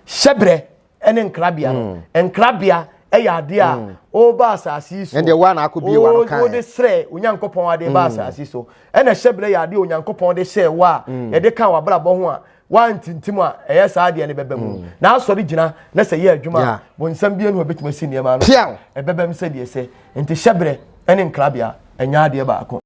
Hyɛbrɛ ne nkrabea no, mm. nkrabea yɛ adeɛ a mm. ɔba asase yi so ɛdeɛ wa na akɔbie wa no kan wode srɛ onyankopɔn adeɛ ba mm. asase so ɛna hyɛbrɛ yɛ adeɛ onyankopɔn de hyɛ wa a yɛde ka wabrabɔ ho a wantintim a ɛyɛ saa adeɛ no bɛbɛ mu na asɔre gyina na sɛ yɛ adwuma a bonsam bie no a bɛtumi asi nneɛma no ɛbɛbɛ m sɛdeɛ sɛ nti hyɛbrɛ ne nkrabea ɛnyɛ adeɛ baako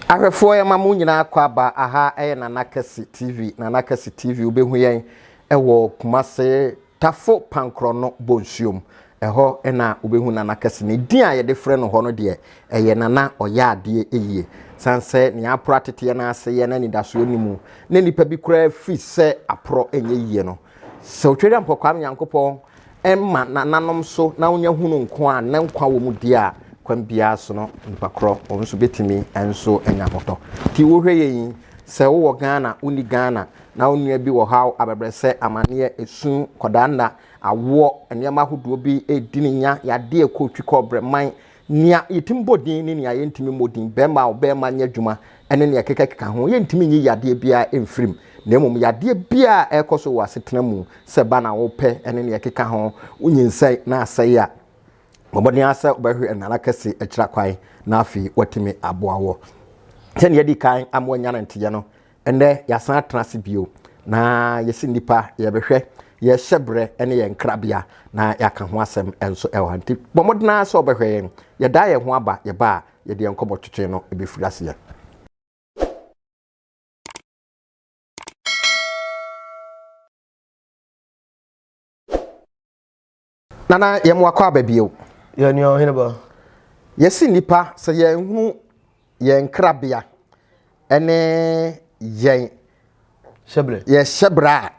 Ahwɛfoɔ yɛma mo nyinaa akwaaba aha yɛ Nana Kɛse TV Nana Kɛse TV wobɛhu yɛn wɔ Kumase Tafo Pankrɔno Bonsuom ɛhɔ na wobɛhu Nana Kɛse ne din a yɛde frɛ no hɔ no deɛ ɛyɛ Nana ɔyɛ adeɛ ɛyie san sɛ nea aporo ateteɛ no ase yɛ na anidasoɔ ne mu na nipa bi koraa firi sɛ aporɔ ɛnyɛ yie no sɛ otwere ampɔkwaa Nyankopɔn ɛmma nananom so na wonya hunu nko a na nkwa wɔ mu di a kwan biara so no nipa korɔ wɔn nso bɛtumi nso anya hotɔ nti wohwɛ yɛ yi sɛ wowɔ Ghana wonni Ghana na wo nua bi wɔ haw abɛbrɛsɛ amanneɛ esu kɔdaa nna awoɔ nneɛma ahodoɔ bi ɛredi ne nya yadeɛ kɔɔtwi kɔɔbrɛ man Nea yetumi bɔ din ne nea yentumi mmɔ din, barima o, barima nyɛ adwuma ne nea ɛkekakeka ho. Yentumi nyi yadeɛ biara mfiri mu, na mmom yadeɛ biara a ɛrekɔ so wɔ asetena mu, sɛ ba na wopɛ ne nea ɛkeka ho, wonyinsɛn na asɛe a, bɔ mmɔden ara sɛ wobɛhwɛ na ara kɛse akyira kwan na afei woatumi aboa wɔ sɛnea adi kan ama woanya no nteyɛ no Ɛnnɛ yɛasan atena ase bio na yɛsi nnipa yɛbɛhwɛ yɛhyɛ berɛ ne yɛn krabea na yɛaka ho asɛm nso ɛwɔ ha nti bɔ mmɔden ara sɛ wɔbɛhwɛ yɛn yɛdaa yɛn ho aba yɛba a yɛde yɛn nkɔmmɔ twetwe no ɛbɛfiri aseɛ Nana yɛ mo akɔ aba bio. Yɛ nua ɔhene ba. Yɛsi nnipa sɛ yɛn hunu yɛn nkrabea ɛne yɛn hyɛbrɛ yɛ hyɛbrɛ a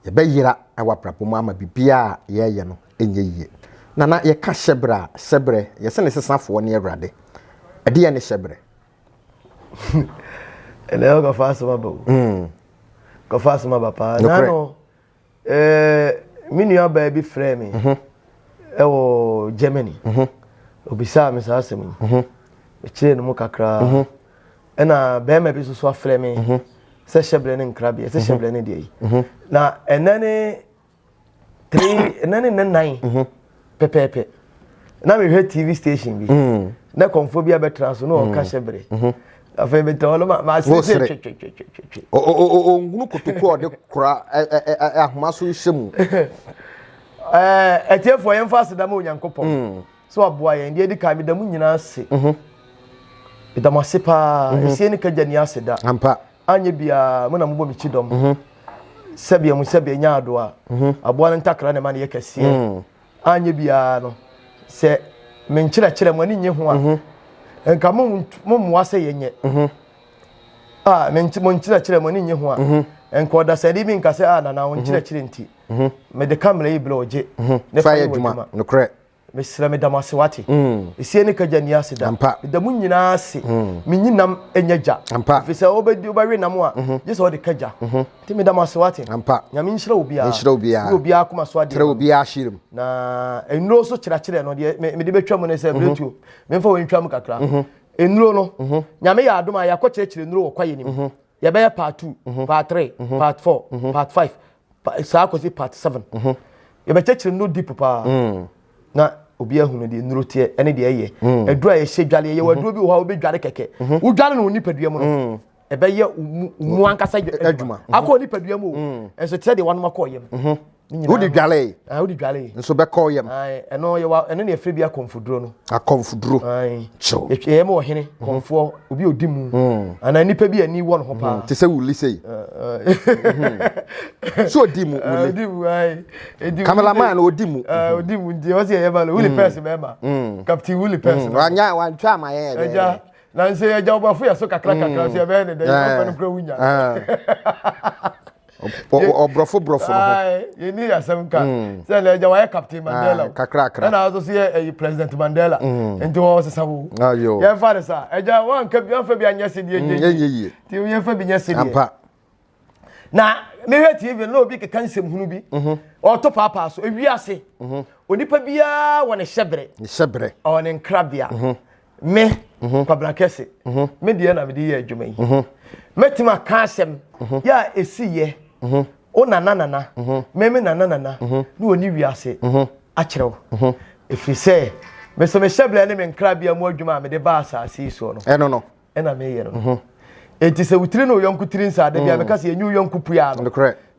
yɛbɛyera ɛwɔ abrabɔ mu ama biribiara a yɛyɛ no ɛnyɛ yie. Nana yɛka hyɛbrɛ a hyɛbrɛ yɛsɛ ne sesafoɔ ne awurade ɛdeɛ ne hyɛbrɛ. ɛnɛ ɔkɔfa asɛm aba o. Mm. Kɔfa asɛm aba paa. Nano Ɛɛ me nua baa bi frɛɛ me mhm. ɛwɔ Germany mhm. obisaa me saa asɛm yi mekyerɛɛ no mu kakraa ɛna bɛrima bi nso so afrɛ me sɛ hyɛbrɛ ne nkrabea sɛ hyɛbrɛ ne deɛ yi na ɛnɛ ne three ɛnɛ ne nnan pɛpɛɛpɛ na mehwɛ tv station bi mm. na kɔmfoɔ bi abɛtra so na mm. ɔka hyɛ bere mm-hmm. afei metɛ hɔ no maasesɛ twetwetwetwetwe ɔhunu kotoku a ɔde kora ahoma so hyɛ mu atiefoɔ yɛmfa aseda ma onyankopɔn mm. sɛ waboa yɛn deɛ ɛdi kan meda mu nyinaa ase mm-hmm. meda mo ase paa ɛsie mm-hmm. ne kagya ni aseda anyɛ biara mo na mobɔ me kyi dɔm mhm. sɛbea mu sɛbea nya ado a mhm. aboa no ntakra na ɛma no yɛ kɛseɛ mm. anyɛ biara no sɛ menkyerɛkyerɛ mo ani nye ho a mhm. nka mommoa sɛ yɛnyɛ a monkyerɛkyerɛ mo ani nye ho a nka ɔdasani bi nka sɛ a nana wo nkyerɛkyerɛ nti mede kamera yi berɛ ɔgye ne fa yɛ adwuma nokorɛ mesrɛ meda mo ase wate mm. ɛsie ne kagya ni ase da meda mo nyinaa ase mm. menyi nam ɛnyɛ gya ɛfiri sɛ wobɛwe nam a mhm. gye sɛ wode kagya mhm. nti meda mo ase wate nyame nhyira obiaa obiaa koma so adeɛ na nnuro so kyerɛkyerɛ no deɛ mede bɛtwa mu ne sɛ mhm. berɛtuo memfa wɔntwa mu kakra nnuro no nyame yɛ adom a yɛakɔkyerɛkyerɛ nnuro wɔ kwayɛ nim yɛbɛyɛ part two mhm. part three mhm. part four mhm. part five saa kɔsi part seven yɛbɛkyɛkyerɛ no deep paa mm. na obi ahunu deɛ nnuro teɛ ɛne deɛ ɛyɛ mm. aduro a yɛhyɛ dwale yɛyɛ wɔ aduro bi wɔ hɔ a wobɛdware kɛkɛ wodware no wo nipadua mu no mm. ɛbɛyɛ mu ankasa adwuma akɔ nipadua mu o ɛnso kyerɛ deɛ wanom akɔ yam wode dwalɛe ah, wode dwalɛe nso bɛkɔ yam ɛno yɛwa ɛno ne ɛfrɛ bi akɔmfoduro no akɔmfoduro kyɛw ɛyɛ ma ɔhene mhm. kɔmfoɔ obi ɔdi mu mm. anaa nnipa bi ani wɔ ne ho paa mm. te sɛ wuli sei ah, ah. mhm. so ɔdi mu wuli kamelaman no ɔdi mu ɔdi mu nti ɔsɛ ɛyɛ ma no wuli mm. pɛs bɛɛma captain wuli pɛs no wanya wantwa ama yɛ ɛgya na nsɛ ɛgya wobafo yɛ so kakra kakra so yɛbɛyɛ ne dɛ yɛbɛfɛ no kura wunya ɔborɔfo borɔfo no ho yɛni yɛ asɛm ka hmm. sɛ na agya wayɛ captain mandela kakrakra ɛna nso so yɛ ɛyi president mandela hmm. nti wɔn sesa wo yɛmfa ne sa agya wanka bi wanfa bi anyɛ se deɛ hmm, yɛ yie nti yɛmfa bi nyɛ se deɛ na mehwɛ tv na obi keka nsɛm hunu bi mhm. ɔto paapaa so ewi ase mhm. onipa biara wɔ ne hyɛbrɛ ne hyɛbrɛ ɔwɔ ne nkrabea mhm. me mhm. kwabena kɛse mhm. me deɛ na mede yɛ adwuma yi mhm. mɛtumi aka asɛm yɛ a ɛsiyɛ wo nana nana meme nana nana ne wɔne wiase akyerɛ wo ɛfiri sɛ mesɛ mehyɛ berɛ ne me nkrabea mu adwuma a mede ba asase yi soɔ no ɛno no ɛna meyɛ no enti sɛ wotiri ne woyɔnko tiri nsa da bia meka sɛ yɛnyi woyɔnko pua no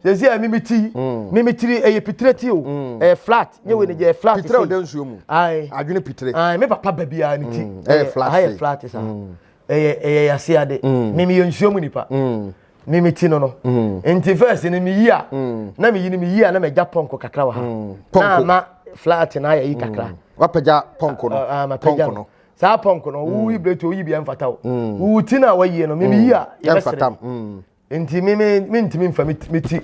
sɛsi a mimi ti mm. mimi tiri ɛyɛ pitire ti o mm. ɛyɛ flat nye wei ni mm. yɛ flat pitire o de nsuo mu ayi adwene pitire ayi mi papa bɛbi a ni ti ɛyɛ flat ɛyɛ flat sa ɛyɛ ɛyɛ yase ade mimi yɛ nsuo mu nipa mimi ti no no nti fɛs ni mi yi a na mi yi ni mi yi a na mi gya pɔnkɔ kakra wɔ ha na ama flat na ayɛ yi kakra wapɛgya pɔnkɔ no ah, ah, pɔnkɔ no saa pɔnkɔ no wuyi bere to wuyi bi ɛnfata o wuwu ti na wɔyie no mimi yi a yɛ bɛ sere nti me me me ntumi nfa me ti me ti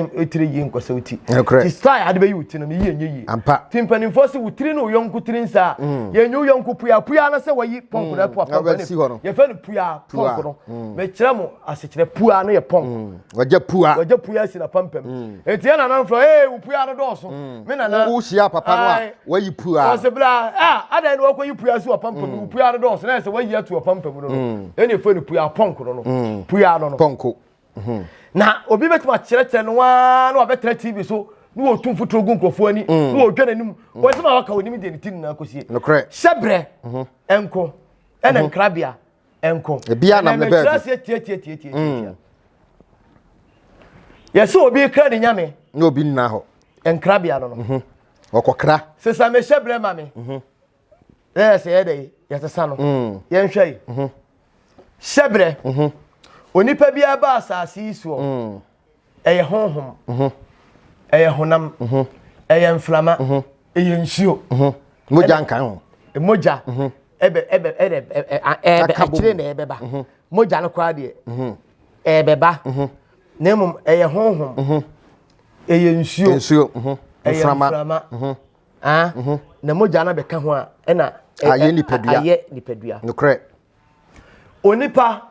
ɛtiri yie nkɔsɛ wo ti ti style ade bɛyi wo ti no ne yie nyɛ yie ampa ti mpanimfoɔ sɛ wo tiri ne wo yɔnko tiri nsa mm. yɛnyɛ wo yɔnko pua pua no sɛ wɔyi pɔnko no mm. apua pɔnko no yɛfɛ no pua pɔnko no mm. mekyerɛ mo asekyerɛ pua no yɛ pɔnko wɔgya pua wɔgya pua si na pampam eti yɛ nana nflɔ ee wo pua no dɔɔso me nana wo hyia papa no a Wayi pua. Ɔsɛ bla a adan no wakɔyi pua nso apampa mu mm. pua no dɔɔso na ɛsɛ wayi ato apampa mu no no mm. ɛna ɛfɛ no pua pɔnko no no mm. pua no no pɔnko mm-hmm. na obi bɛtumi akyerɛkyerɛ no waa na wabɛtena tv so na wɔtu mfotoro gu nkurɔfoɔ ani na wɔdwa n'anim wɔsɛm a waka wɔnim deɛ ne ti nyinaa kɔsie hyɛbrɛ mm-hmm. ɛnko ɛna mm-hmm. nkrabea ɛnko ɛnɛmɛkyerɛ aseɛ tiatiatiatiatia mm. yɛsɛ obi kra ne nyame na obi nna hɔ nkrabea no no ɔkɔkra. sesa me hyɛ brɛ ma me mhm. na yɛ sɛ yɛ dɛ yɛsesa no mm. yɛnhwɛ yi mhm. hyɛ brɛ mhm. onipa biara ba asase yi soɔ mm. ɛyɛ honhom ɛyɛ honam ɛyɛ mframa ɛyɛ nsuo mogya nka ho mogya ɛbɛ ɛbɛ ɛbɛ ɛbɛ akyire na ɛbɛba mogya no koraa deɛ ɛbɛba na mmom ɛyɛ honhom ɛyɛ nsuo nsuo mhm. ɛyɛ mframa mhm. Ah? Mhm. na mogya no bɛka ho a ɛna ayɛ nipadua ayɛ nipadua nokorɛ onipa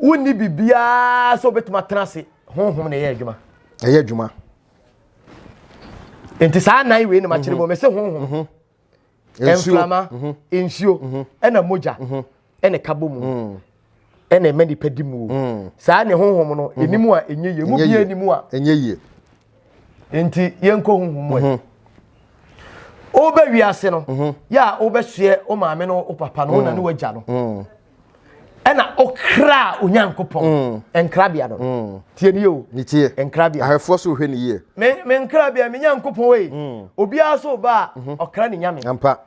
wonni biribiara sɛ wobɛtumi atena ase honhom na ɛyɛ adwuma ɛyɛ adwuma nti saa nan wei na makyerɛ mu mɛsɛ honhom mframa nsuo ɛna mogya ɛna ɛka bɔ mu ɛna ɛma nipa di mu o saa ne honhom no ɛnimu a ɛnyɛ yie mu bia ɛnimu a ɛnyɛ yie nti yɛnkɔ honhom mu ɛ wobɛ wiase no yɛ a wobɛsoɛ wo maame no wo papa no wo na ne wagya no ɛna ɔkraa onyankopɔn mm. nkrabea no mm. tie ni o ne tie nkrabea ahwɛfoɔ so hwɛ ne yie me me nkrabea me nyankopɔn wei mm. obiara so ba a mhm. ɔkra ne nyame ampa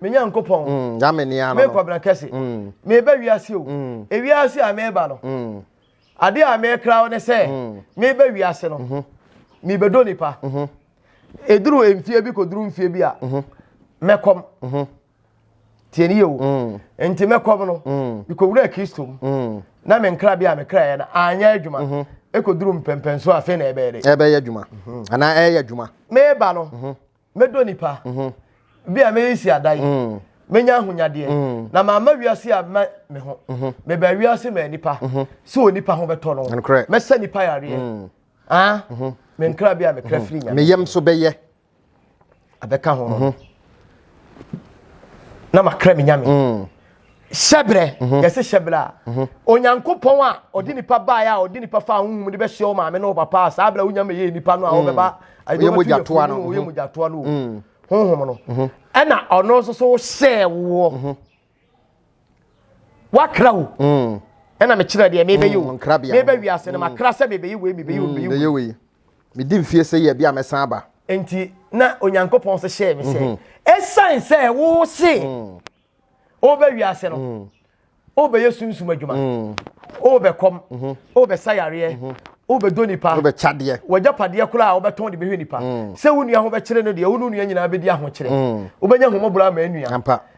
me nyankopɔn mm, nyame ne ano me kɔbena kɛse mm. me ba wiase o mm. ewiase a me ba no mm. ade a me kra wo ne sɛ mm. me ba wiase no mm -hmm. me bedo nipa mm -hmm. eduru mfie bi koduru mfie bi a mm -hmm. mɛkɔm mm -hmm. tie ne yie o mm. nti mɛkɔm no mm. mekɔwura kristo mu mm. na me nkra bi a mekraeɛ no anyɛ adwuma mhm. ɛkɔduru mpɛmpɛn so afei na ɛbɛyɛ dɛ ɛbɛyɛ adwuma mhm. anaa ɛyɛ adwuma meba no mhm. mɛdɔ nipa bi a mɛyɛ si ada yi mɛnya ahonyadeɛ na maama wiase a mɛ me ho meba wiase ma nipa sɛ onipa ho bɛtɔ no mɛsɛ nipa yareɛ ah, me nkra bi a mekra firi nyame meyam so bɛyɛ abɛka ho mhm. na makra me nyame mm. hyɛberɛ mhm. yɛse hyɛberɛ a mhm. onyankopɔn a ɔde nipa baeɛ a ɔde nipa fa honhom de bɛhyɛ wo maame ne wo papa a saa berɛ wonya mɛyɛ nipa no a mm. wobɛba ɔyɛ mogyatoa no ɔyɛ mogyatoa no mm. honhom no ɛna ɔno nso so hyɛɛ woɔ wakra wo mm. ɛna mekyerɛ deɛ mebɛyɛ o mm, mebɛ wiase no mm. makra sɛ mebɛyɛ wei mebɛyɛ wei mebɛyɛ wei medi mfie sɛ yɛ bi a mɛsan aba nti na onyankopɔn sɛ hyɛɛ me sɛ mhm. ɛsiane sɛ wo se wobɛ wiase no wobɛyɛ sunsum adwuma wobɛkɔm mhm. wobɛsa yareɛ mhm. wobɛdɔ nipa wobɛkyadeɛ wagyapadeɛ koraa a wobɛtɔn de bɛhwɛ nipa sɛ wo nua ho bɛkyerɛ no deɛ wo ne nua nyinaa bɛdi ahokyerɛ wobɛnya homɔborɔ ama anua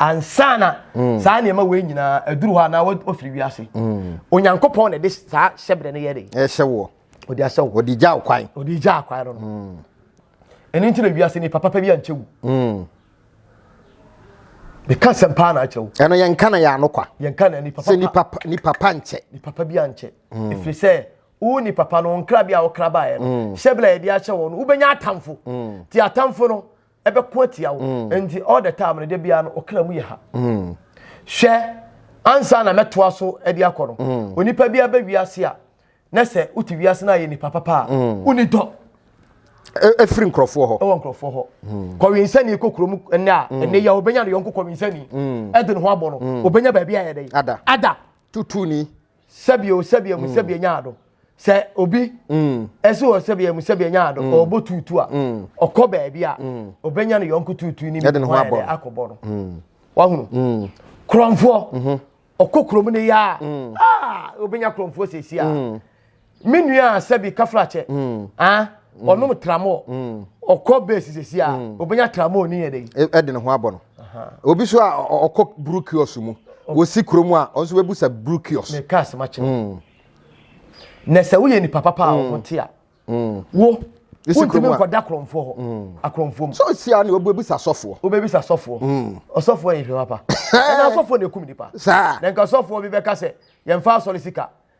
ansa na mm. saa nneɛma wei nyinaa aduru hɔ anaa wafiri wiase mm. onyankopɔn na ɛde saa hyɛbrɛ no yɛ de ɛhyɛ woɔ ɔde ahyɛ wo ɔde gya kwan ɔde gya kwan no mm. ɛno nti na wiase nipa papa bi ankyɛ wo meka sɛm paa na akyerɛ wo ɛno yɛnka na yɛ ano kwa yɛnka na nipa sɛ nipa nipa pa nkyɛ nipa pa bi ankyɛ ɛfiri sɛ wo ni papa no nkra bi a wokra baeɛ no hyɛbrɛ yɛde ahyɛ wɔ no wobɛnya atamfo ti atamfo no ɛbɛko atia wo mm. nti all the time no da biara no ɔkra mu yɛ ha mm. hwɛ ansa na mɛtoa so de akɔ no mm. onipa biara bɛ wiase a na sɛ wote wiase no ayɛ nipa papa a woni dɔ ɛfiri e, nkurɔfoɔ hɔ ɛwɔ nkurɔfoɔ hɔ kɔwensani kɔ kurom ɛnɛ a ɛnɛ yɛ ɔbɛnya ne yɔnko kɔwensani ɛde ne ho abɔ no ɔbɛnya baabi ayɛ dɛ ada ada tutuni sɛbi o sɛbi emu sɛbi enya ado sɛ obi ɛsi wɔ sɛbi emu sɛbi enya ado ɔbɔ tuutu a ɔkɔ baabi a ɔbɛnya ne yɔnko tuutu ne mu ho ayɛ dɛ akɔbɔ no wahunu kurɔnfoɔ ɔkɔ kurom ne yɛ a ɔbɛnya kurɔnfoɔ sɛsi a me nua a sɛbi kafrakyɛ ah ɔnom mm. tramol mm. ɔkɔ base sɛsi a mm. obɛnya tramol ne yɛ dɛ e, ɛde ne ho abɔ no obi so a ɔkɔ buru kios mu wɔsi kuro mu a ɔnso bɛbu sɛ buru kios ne kaa sɛma kyerɛ na sɛ woyɛ nipa papa a ɔho te a wo wontumi nkɔda korɔmfoɔ hɔ akorɔmfoɔ mu sɛ ɔsi a ne wobɛbisa sɔfoɔ wobɛbisa sɔfoɔ ɔsɔfoɔ yɛ hwɛ papa ɛna sɔfoɔ na ɛkum nipa na nka sɔfoɔ bi bɛka sɛ yɛmfa asɔre sika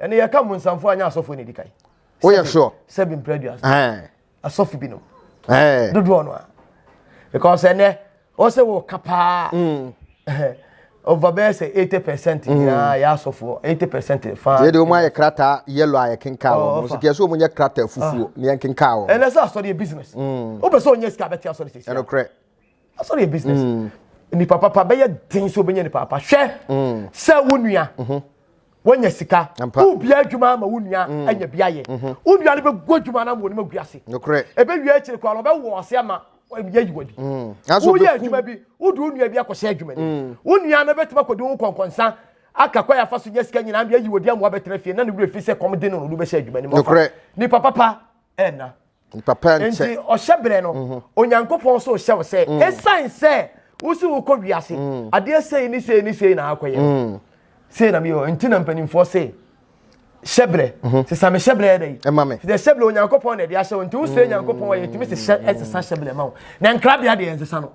ɛne yɛka mmonsamfoɔ anyɛ asɔfoɔ na ɛdi kan woyɛ sure sɛbi mpira aduasa asɔfo binom dodoɔ no a because ɛnɛ ɔsɛ wɔ ka paa mm. over bɛyɛ sɛ eighty percent mm. nyinaa yɛ asɔfoɔ eighty percent fa. yɛ de wɔn ayɛ krataa yellow a yɛkenkaa wɔn oh, nso kìí ɛsɛ wɔn nyɛ krataa fufuo ah. ni yɛnkenkaa wɔn. ɛnɛ sɛ asɔre yɛ business. wopɛ mm. sɛ ɔnyɛ sika abɛte asɔre sɛ sika. ɛnokorɛ. asɔre yɛ business mm. nipa papa bɛyɛ den sɛ wobɛnya nipa papa hwɛ mm. sɛ wo nua mhm. wonya sika wobia adwuma ama wo nua mm. anya bi ayɛ mhm. wo nua no bɛgu adwuma no ama wɔnim agu ase ɛbɛwie akyiri koraa ɔbɛwɔ ase ama yɛ yiwa bi woyɛ adwuma bi wode wo nua bi akɔhyɛ adwuma ni wo nua no bɛtumi akɔdi wo kɔnkɔnsa aka kɔ yafa so nyɛ sika nyinaa bi ayi wɔ di amoa bɛtena fie na ne wura fi sɛ kɔm de no no wobɛhyɛ adwuma ni mu nipa papa ɛna papa nkyɛ nti ɔhyɛ berɛ no mhm. onyankopɔn nso hyɛ wo sɛ mm. ɛsiane sɛ wosi wokɔ wiase mm. adeɛ sei ne sei ne sei na akɔyɛ mm. sei na meyɛ nti na mpanimfoɔ sei hyɛ berɛ mhm. sesa me hyɛ berɛ yɛ dɛ yi ɛma me sɛ hyɛ berɛ onyankopɔn na ɛde ahyɛ wo nti wosrɛ nyankopɔn ayɛ tumi sɛ hyɛ ɛsesa hyɛ berɛ ma wo na nkrabea deɛ ɛnsesa no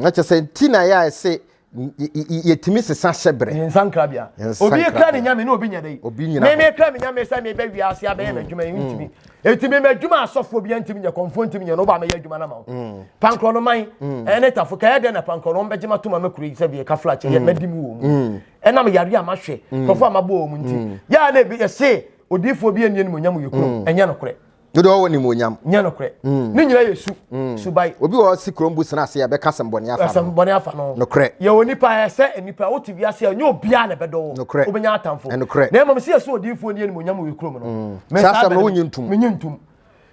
na kyɛ sɛ nti na yɛ a ɛse yɛtumi sesa hyɛberɛ ne nsa nkrabea obi kra ne nyame ne obi nyɛ dɛn obi nyina me mekra me nyame sɛ mebɛ wiase abɛyɛ mm. m'adwuma yi ntumi mm. ɛti me m'adwuma asɔfoɔ bi ntumi nyɛ kɔmfoɔ ntumi nyɛ no woba mɛyɛ adwuma no ma wo mm. pankorɔ no man ɛne tafo kɛyɛ dɛn na pankorɔ no ɔmbɛgye mato ma mɛkuro yi sɛ deɛ ka flakyɛ yɛ mɛdi mu wɔ mu ɛnam yare a mahwɛ kɔfo a mabɔ wɔ mu nti yɛa na ɛbi yɛse odiifoɔ bi ɛnni animonyam yɛ kuro ɛnyɛ nokorɛ Dodo ɔwɔ ne mu onyam. Nyɛ nokorɛ. Mm. Ne nyinaa yɛ su. Mm. Subae. Obi wɔ si kurom bu sena ase a bɛka sɛm bɔne afa no. Sɛm bɔne afa no. Nokorɛ. Yɛ wɔ nipa yɛ sɛ nipa wo te wiase a nyɛ obiara na bɛdɔ wo. Nokorɛ. Wobɛnya atamfo. Nokorɛ. Na mmom si yɛ so odiifoɔ ni anim onyam wɔ kurom no. Mm. Saa asɛm no wonyi ntum. Menyi ntum.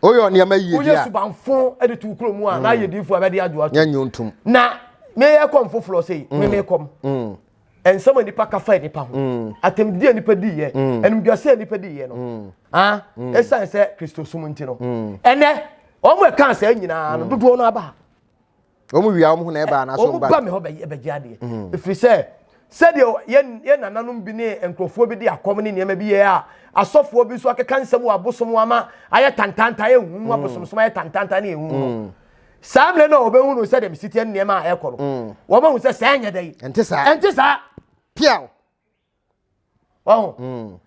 Oyɛ nneɛma yie bia. Woyɛ subanfo de to kurom mu a na ayɛ diifoɔ a bɛde adwo ato. Nyɛ nyi ntum. Na meyɛ kɔm foforɔ sɛ yi. Meme kɔm. nsɛm a nipa ka fa nipa ho mm. atɛmdidi a nipa di yɛ mm. animdwase a nipa di yɛ no mm. ah, ɛsiane sɛ kristo som nti no ɛnɛ wɔn a ɛka saa nyinaa no dodoɔ no aba wɔn wia wɔn ho na ɛba anaasɛ wɔn ba wɔn ba mi hɔ bɛgye adeɛ ɛfiri sɛ sɛdeɛ yɛn yɛn nananom bi ne nkurɔfoɔ bi de akɔm ne nneɛma bi yɛ a asɔfoɔ bi nso akeka nsɛm wɔ abosom ama ayɛ tantanta ayɛ huhu abosomsom ayɛ tantanta ne ehuhu saa mmerɛ no a wɔbɛhunu sɛdeɛ mesiteɛ nneɛma a ɛrekɔ no mm. wɔmahu sɛ saa nyɛ dɛn ɛnte saa ɛnte saa piaw ɔho mm.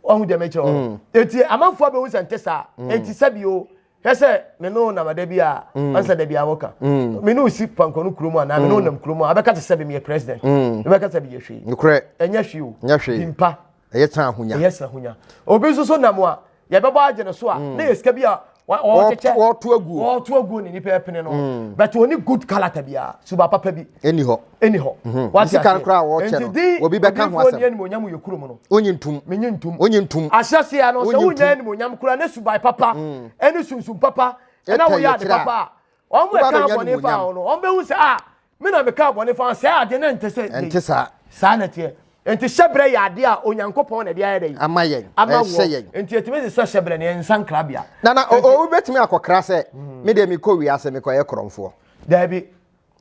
ɔho deɛ mɛkyerɛ ɔ mm. ɛti amanfoɔ bɛhu sɛ nte saa ɛnti sɛ bio hwɛ sɛ me ne namada bi a ɔnsɛ da bi a woka me ne wosi pankɔ no kurom anaa me ne wonam kurom a abɛka te sɛ bi meyɛ president mebɛka sɛ biyɛ hwee ɛnyɛ hwee o bimpa ɛyɛ sɛ ahonya ɛyɛ sɛ ahonya obi nso so nam a yɛbɛbɔ agye no so a mm. na yɛ sika bi a ɔkyekyɛ ɔto aguo ɔto aguo ne nipa ɛpene no mm. but oni good kalata biara suba papa bi ɛni hɔ ɛni hɔ mhm. wati ase sika nkora a wɔkyɛ no obi bɛka ho asɛm ɛni monyam yɛ kurom no onyi ntum menyi ntum onyi ntum ahyɛ se ya no sɛ wonya ɛni monyam kura ne suba papa mm. ɛni sunsun papa ɛna woyɛ ade papa a wɔn mu ɛka abɔne fa wɔn no wɔn bɛ hu sɛ a. Ah, Me na mekaa bɔne faa saa adeɛ na ɛnte sɛ yei. Ɛnte saa. Saa na ɛteɛ. Enti hyɛbrɛ yɛ adeɛ a Onyankopɔn na ɛde ayɛ dɛn? Ama yɛn. Ama wɔ. Enti yɛtumi de sɛ hyɛbrɛ no yɛ nsankrabea. Na na obi bɛtumi akɔkra sɛ hmm. me deɛ mekɔ wiase mekɔyɛ korɔmfoɔ. Daabi.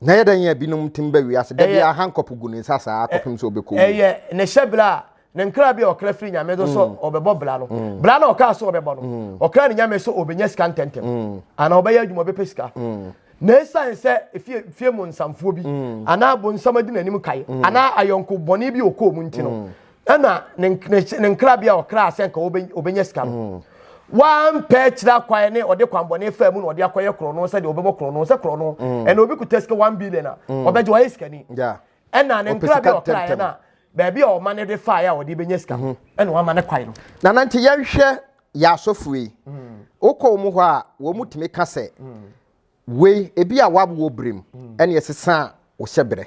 Na yɛ dɛn yɛ binom tim bɛ wiase da bi ahankɔpo gu ne nsa saa akɔpem sɛ ɔbɛkɔ wu. Ɛyɛ ne hyɛbrɛ a ne nkra bi a ɔkra firi nyame do sɛ ɔbɛbɔ bra no bra na ɔkaa sɛ ɔbɛbɔ no ɔkra ne nyame sɛ ɔbɛnya sika ntɛntɛm anaa ɔbɛyɛ adwuma ɔbɛpɛ sika na ɛsiane sɛ fie, fie mu nsamfoɔ bi anaa bonsam adi n'anim kae anaa ayɔnko bɔne bi ɔkɔɔ mu nti no ɛna ne nkra bi a ɔkraa sɛ nka ɔbɛnya sika no wampɛ kyerɛ kwae ne ɔde kwanbɔne faa mu na ɔde akɔyɛ korɔno sɛdeɛ ɔbɛbɔ korɔno sɛ korɔno ɛna obi kuta sika 1 billion a ɔbɛgye wayɛ sikani ɛna ne nkra bi a ɔkraeɛ no a baabi a ɔma no de faeɛ a ɔde bɛnya sika no mhm. ɛna wama no kwan no na na nti yɛnhwɛ yɛ asɔfoɔ yi mm. wokɔ mu hɔ a wɔn mu tumi ka sɛ mm. wei ebi a wawoɔ berem mm. ɛne ɛsesa a wɔhyɛ berɛ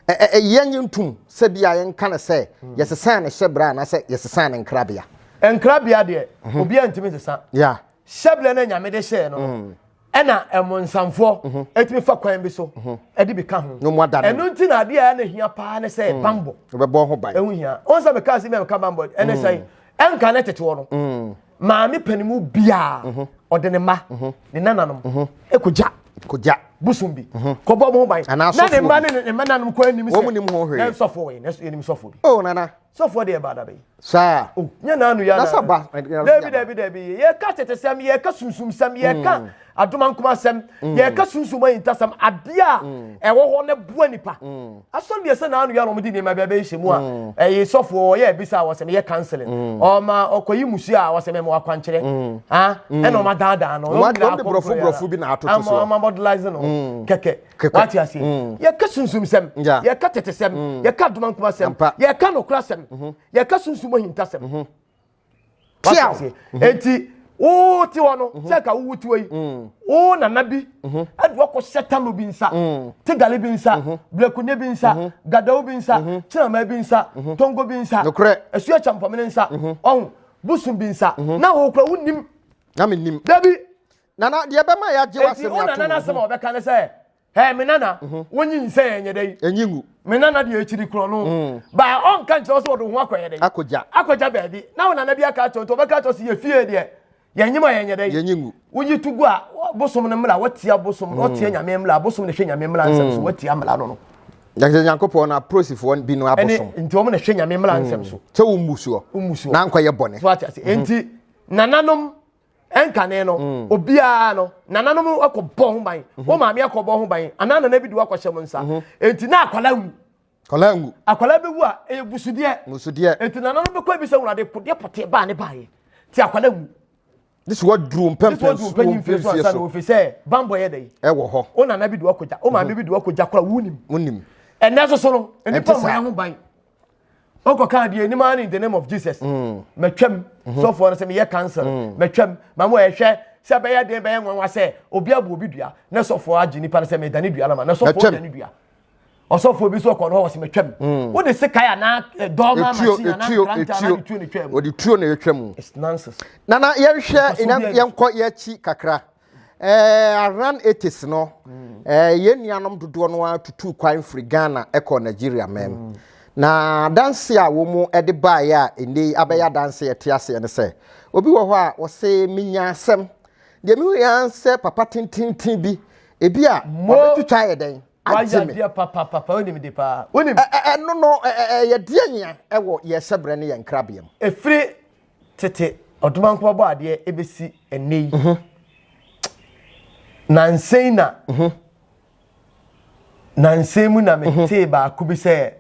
ɛyɛ nye ntom sɛ bi a yɛnka no sɛ yɛsesa ne hyɛ berɛ anaasɛ yɛsesa ne nkrabea nkrabea deɛ mhm. obi a ntumi sesa hyɛ berɛ no nyame de hyɛɛ no ɛna ɛmonsamfoɔ ɛtumi fa kwan bi so ɛde bi ka ho ɛno nti na adeɛ a ɛna hia paa ne sɛ mm. bambɔ ɛbɛbɔ ho ban ɛho hia wɔn sɛ meka ase mi a meka bambɔ ɛne mm. sɛn ɛnka ne teteɔ no mm. maame panimu biara mhm. ɔde ne mma mhm. ne nananom mhm. ɛkɔgya kɔgya bosom bi kɔbɔ mo ho ban na ne mma ne ne mma nanom kɔ anim sɛ wɔn nim ho hwee na nsɔfoɔ wɔ yɛ na yɛnim sɔfoɔ bi. o oh, nana. sɔfoɔ deɛ ɛba adabe saa oh, nyɛ naanu yɛ anaba daabi daabi daabi yɛka tetesɛm yɛka sunsumsɛm yɛka mm. adomankomasɛm mm. yɛka sunsum ayintasɛm adeɛ a mm. ɛwɔ hɔ na bua nipa asɔre deɛ sɛ naanu yɛ na wɔde nneɛma bi abɛhyɛ mu a ɛyɛ sɔfoɔ ɔyɛ abisa a wɔsɛm yɛ kanselin ɔma ɔkɔyi musuo a wɔsɛm ɛmu akwankyerɛ ɛna ɔma daadaa no ɔma nyina akɔnkɔyɛ ama ɔma mɔdelaise no kɛkɛ wate aseɛ mm. yɛka sunsumsɛm yɛka tetesɛm mm. yɛka adomankomasɛm yɛka nokorasɛm mhm. yɛka sunsum ahintasɛm mhm. wate aseɛ mhm. enti wo ti hɔ no sɛ ka wowu tiwa yi wo nana bi ɛde wakɔ hyɛ talo bi nsa tigale bi nsa blɛkunye bi nsa gadawo bi nsa kyinama bi nsa tongo bi nsa ɛsu akyampɔmene nsa ɔho bosom bi nsa na wɔkura wonim na menim dabi Nana, deɛ ɛbɛma yɛagye w'asɛm atom. Enti Ona nana asɛm a ɔbɛka ne sɛ, Hɛɛ, me nana, wo nyinsɛn ɛnyɛ dɛ yi. Ɛnyi ngu. Me nana deɛ akyiri korɔ no, baa ɔnka nkyerɛ wo sɛ ɔde wo ho akɔyɛ dɛ. Akɔgya. Akɔgya baabi. Na wo nana bi aka akyerɛ wo nti ɔbɛka akyerɛ wo sɛ yɛ fie deɛ, yɛn nyem a yɛnyɛ dɛ yi. Yɛnyi ngu. Woyi to gu a, bosom no mmra, watia bosom, watia nyame mmra, bosom na ɛhwɛ nyame mmra nsɛm so, watia mmra no no. Yɛsɛ Nyankopɔn na aprosifoɔ bi no abosom. Ɛne, nti wɔn na ɛhwɛ nyame mmra nsɛm so. Sɛ wo mmusuo. Wo mmusuo. Na ankɔyɛ bɔne. So ate ase. Enti, nananom. ɛnkane no mm. obiara no nananom akɔ bɔ ho ban mhm. wɔn maame akɔ bɔ ho ban anaa nana bi di wakɔ hyɛ mu nsa mhm. eti na akwala ngu akwala ngu akwala bɛ wu a ɛyɛ gusudeɛ gusudeɛ eti nananom bɛ kɔ ebi sɛ wulade podeɛ pɔteɛ baa ne baa yɛ ti akwala ngu. this wa duru mpɛmpɛn so wɔn mfie so ansa na ofe sɛ bambɔ yɛ dɛ yi ɛwɔ hɔ o nana bi di wakɔ gya o maame mhm. bi di wakɔ gya kora wunim wunim ɛnɛ soso no nipa mɔ yɛ ho ban. wokɔka deɛ anim ara ne in the name of jesus mm. matwam mm-hmm. sɔfoɔ no sɛ meyɛ cancer mm. matwam ma mo ɛhwɛ sɛ bɛyɛ den bɛyɛ nwanwa sɛ obi abu obi dua na sɔfoɔ agye nipa no sɛ medane dua no ma na sɔfoɔ dane dua ɔsɔfoɔ bi so ɔkɔ no hɔ wɔsɛ matwam mm. wode sekae anaa eh, dɔɔma machine anaa kranta anaa de tuo no twam wɔde tuo no ɛtwa mu nana yɛnhwɛ yɛnkɔ yɛakyi kakra Aran eighties no yɛn nuanom dodoɔ no ara tutuu kwan firi Ghana kɔɔ Nigeria man mu. Mm. Na adanse a wɔn de baeɛ a ɛnɛ yi abɛyɛ adanse a ɛte aseɛ ne sɛ obi wɔ hɔ a ɔse menya asɛm deɛ mehu yɛ ara sɛ papa tententen bi ebi a ɔbɛtwitwa ayɛ dɛn agye me. Ɛno no yɛdeɛ nyia wɔ yɛn hyɛbrɛ ne yɛn nkrabea mu. Ɛfiri tete ɔdomankoma bɔ adeɛ ɛbɛsi ɛnnɛ yi mhm. nansɛn na mhm. nansɛn mu na mhm. metee baako bi sɛ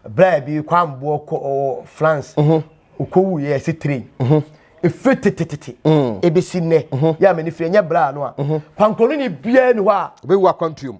berɛ bi kwamboɔ kɔ france ɔkɔwu yɛ ɛsi train ɛfiri tetetete ɛbɛsi nnɛ yɛ a m'ani firi ɛnyɛ berɛ a no a pankɔno ne biaa ni hɔ a ɔbɛwu akwantuom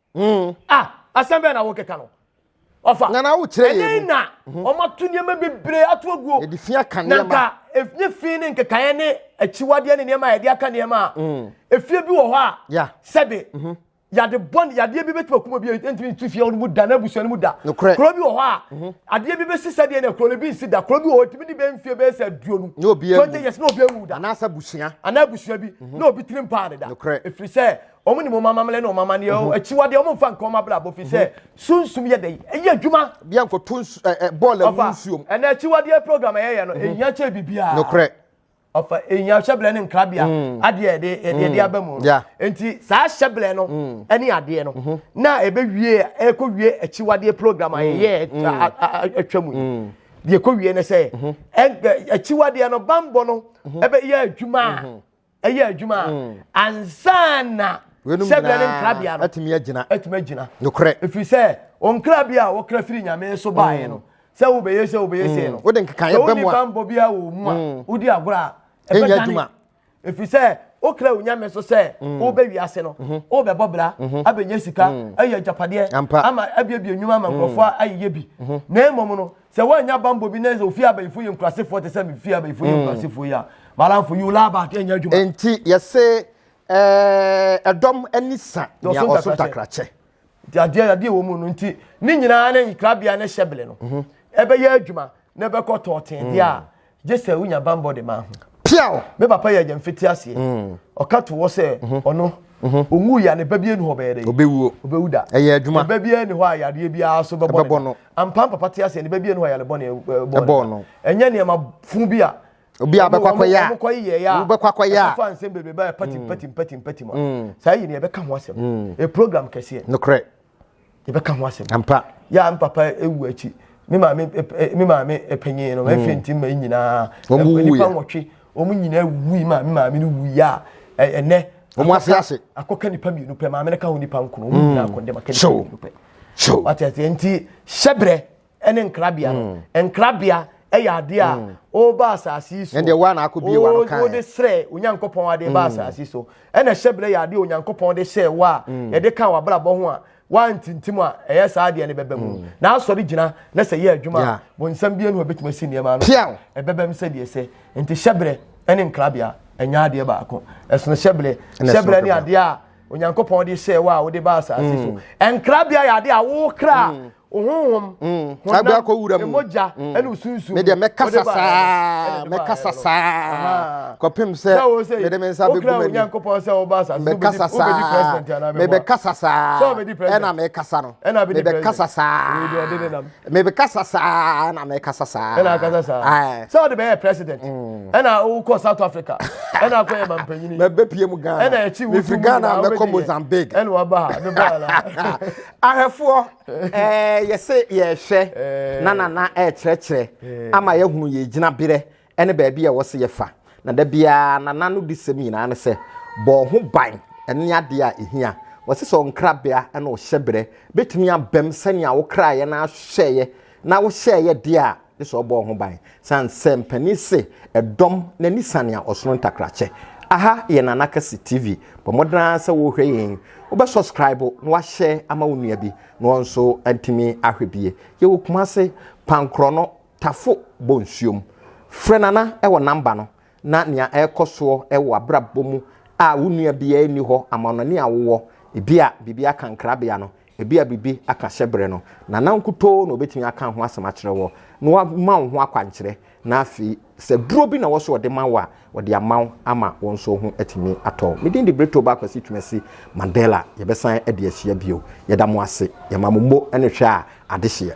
Hmm. Ah, asɛm bɛn na wokeka no? Ɔfa. Na na wokyerɛ yɛn mu. Ɛdɛn na hmm. wɔato nneɛma bebree ato aguo. Yɛde fi aka nneɛma. Na nka ɛnyɛ e, fi ne nkekaeɛ ne akyiwadeɛ ne nneɛma a yɛde aka nneɛma a. Hmm. Efie bi wɔ hɔ a. Ya. Sɛbe. Mhm. Yɛde bɔ yadeɛ bi bɛtuma kuma bi ntumi ntu fie no mu da na abusua no mu da. Nokorɛ. Kuro bi wɔ hɔ a. Mhm. Adeɛ bi bɛsi sɛdeɛ na kuro no bi nsi da. Kuro bi wɔ hɔ tumi ne bɛn fie bɛyɛ sɛ aduonu. Ne obi awu. Twenty years na obi awu da. Anaasɛ abusua. Anaa abusua bi. Mhm. Na obi tirim paa ne da. Nokorɛ. Efiri sɛ Wɔnim wɔn amammerɛ ne wɔn amanneɛ, mhm. akyiwadeɛ, wɔmfa nka wɔn abrabɔ, firi sɛ mhm. sunsum yɛ dɛ, ɛyɛ adwuma. Bia nkɔto bɔɔl agu nsuom. Ɛnna akyiwadeɛ program ɛyɛyɛ no, mhm. ɛhia kyɛ biribiara. Nokorɛ. ɔfa ehia hyɛbrɛ ne nkrabea mm. adeɛ ɛde ɛde ɛde mm. aba mu no nti saa hyɛbrɛ no mm. ɛne adeɛ no mm-hmm. na ebe wie ɛkɔ wie akyiwadeɛ program a yɛyɛ atwa mu yi deɛ ɛkɔ wie no sɛ mm-hmm. akyiwadeɛ no bambɔ no ɛbɛ mm-hmm. yɛ adwuma a ɛyɛ adwuma a mm. ansa na sɛbea ne nkrabea no atumi agyina atumi agyina nokorɛ ɛfiri sɛ ɔnkrabea a wɔkra firi nyame so baeɛ mm. no sɛ wobɛyɛ sɛ wobɛyɛ sɛ mm. no wode nkekaeɛ bɛ mu a bambɔ biara wɔ mu a mm. wodi agorɔ a ɛbɛdane ɛfiri sɛ wokra wo nyame so sɛ wobɛ wiase no mhm. wobɛbɔ bra mhm. abɛnya sika ayɛ agyapadeɛ ama abiabia nnwuma ama nkurɔfoɔ ayeyɛ bi na mmom no sɛ woannya bambɔ bi na sɛ ofie abayifo yɛ nkurasefoɔ te sɛ me fie abayifo yɛ nkurasefoɔ yi a malamfo you laa back ɛnyɛ adwuma enti yɛse ɛdɔm ani sa nea ɔso ntakrakyɛ nti adeɛ adeɛ wɔ mu no nti ne nyinaa ne nkrabea ne hyɛbele no ɛbɛyɛ adwuma na ɛbɛkɔ tɔɔtee deɛ a Gye sɛ wonya bammɔ de ma ho. Piaw! Me papa yɛ agya mfitiaseɛ. Mm. Ɔka to hɔ sɛ mhm. ɔno mhm. ɔnwu yɛ ne ba bi anu hɔ bɛyɛ dɛ. Ɔbɛwuo. Ɔbɛwu da. Ɛyɛ adwuma. Ne ba bi ani hɔ a yadeɛ biara so bɛbɔ no. Ampa papa te aseɛ ne ba bi ani hɔ a yare bɔ ne bɔ no. Ɛnyɛ nneɛma fun bi a obi a bɛkɔ akɔyɛ a wɔkɔ yɛ yɛ a wobɛkɔ akɔyɛ a ɛfa nsɛm bebrebe a pati pati pati pati mu a saa yi ne yɛbɛka ho asɛm e program kɛseɛ nokorɛ yɛbɛka ho asɛm ampa yɛ me papa ewu akyi me maame me maame panyin no ɛfɛ nti mma nyinaa nipa nwɔtwe wɔn nyinaa wu yi maame maame no wu yi a ɛnɛ wɔn ase ase akɔka nipa mmienu pɛ maame no ka ho nipa nkono wɔn nyinaa akɔndɛm aka nipa mmienu pɛ so wate ase nti hyɛbrɛ ɛne nkrabea no mm. nkrabea ɛyɛ adeɛ a mm. ɔreba asase yi so ɛdeɛ wa na akɔ bie wa no kan ɔde srɛ onyankopɔn adeɛ ba mm. asase so ɛna hyɛ berɛ yɛ adeɛ onyankopɔn de hyɛ wa a yɛde ka w'abrabɔ ho a wantintim a ɛyɛ saa adeɛ no bɛbɛ mu na asɔre gyina na sɛ yɛ adwuma a bonsam bie no hɔ bɛtumi asi nneɛma no ɛbɛbɛ mu sɛdeɛ sɛ nti hyɛ berɛ ɛne nkrabea ɛnyɛ adeɛ baako ɛsono hyɛ berɛ hyɛ berɛ ne adeɛ a onyankopɔn de hyɛɛ wo a wode ba asase so mm. nkrabea yɛ ade a wo kra mm. wo honhom mm. honam mogya ɛne osunsum medeɛ mɛkasa saa mɛkasa saa kɔpem sɛ mede me nsa bɛgu m'ani onyankopɔn sɛ woba asase mɛkasa saa mebɛkasa saa ɛna mekasa no mebɛkasa saa mebɛkasa saa na mekasa saa ɛna akasa saa sɛ wode bɛyɛ president mm. ɛna wokɔ south africa ɛna akɔyɛ mampanyini mɛbɛpie mu ghana ɛna akyi wofi ghana mɛkɔ mozambique ɛna waba ha mebɔala ahwɛfoɔ yɛse yɛhwɛ na nana ɛkyerɛkyerɛ ama yɛhunu yɛgyina berɛ ne baabi a ɛwɔ sɛ yɛfa, na da biara na n'anodisɛm nyinaa ne sɛ, Bɔ wo ho ban ne adeɛ a ɛhia. Wɔse sɛ ɔnkrabea ne ɔhyɛberɛ bɛtumi abam sɛnea wo kra yɛ na ahwehwɛeɛ na wohyɛeɛ deɛ a, gye sɛ ɔbɔ wo ho ban. Sane sɛ mpanin se ɛdɔm no ani sane a ɔsono ntakrakyɛ. Aha yɛ Nana Kase TV. Bɔ mmɔden ara sɛ worehwɛ yɛn yi, wobɛ subscribe na woahyɛ ama wo nua bi na ɔnso atumi ahwɛ bi. Yɛwɔ Kumase, Pankorɔno, Tafo bɔ nsuo mu. Frɛ Nana wɔ number no na nea ɛrekɔ soɔ wɔ abrabɔ mu a wo nua biara nni hɔ amanɔne a wowɔ, ebi a biribi aka nkrabea no, ebi a biribi aka hyɛbrɛ no, Nana nkutoo na ɔbɛtumi aka ho asɛm akyerɛ wo na wama wo ho akwankyerɛ na afei sɛ duro bi na wɔ sɛ ɔde ma wo a, ɔde ama wo ama wo nso ho atumi atɔ wo. Me din de Britto Ba Kwasi Twumasi Mandela. Yɛbɛsan de ahyia bio. Yɛda mo ase. Yɛma mo mo ne hwɛ a adehyeɛ.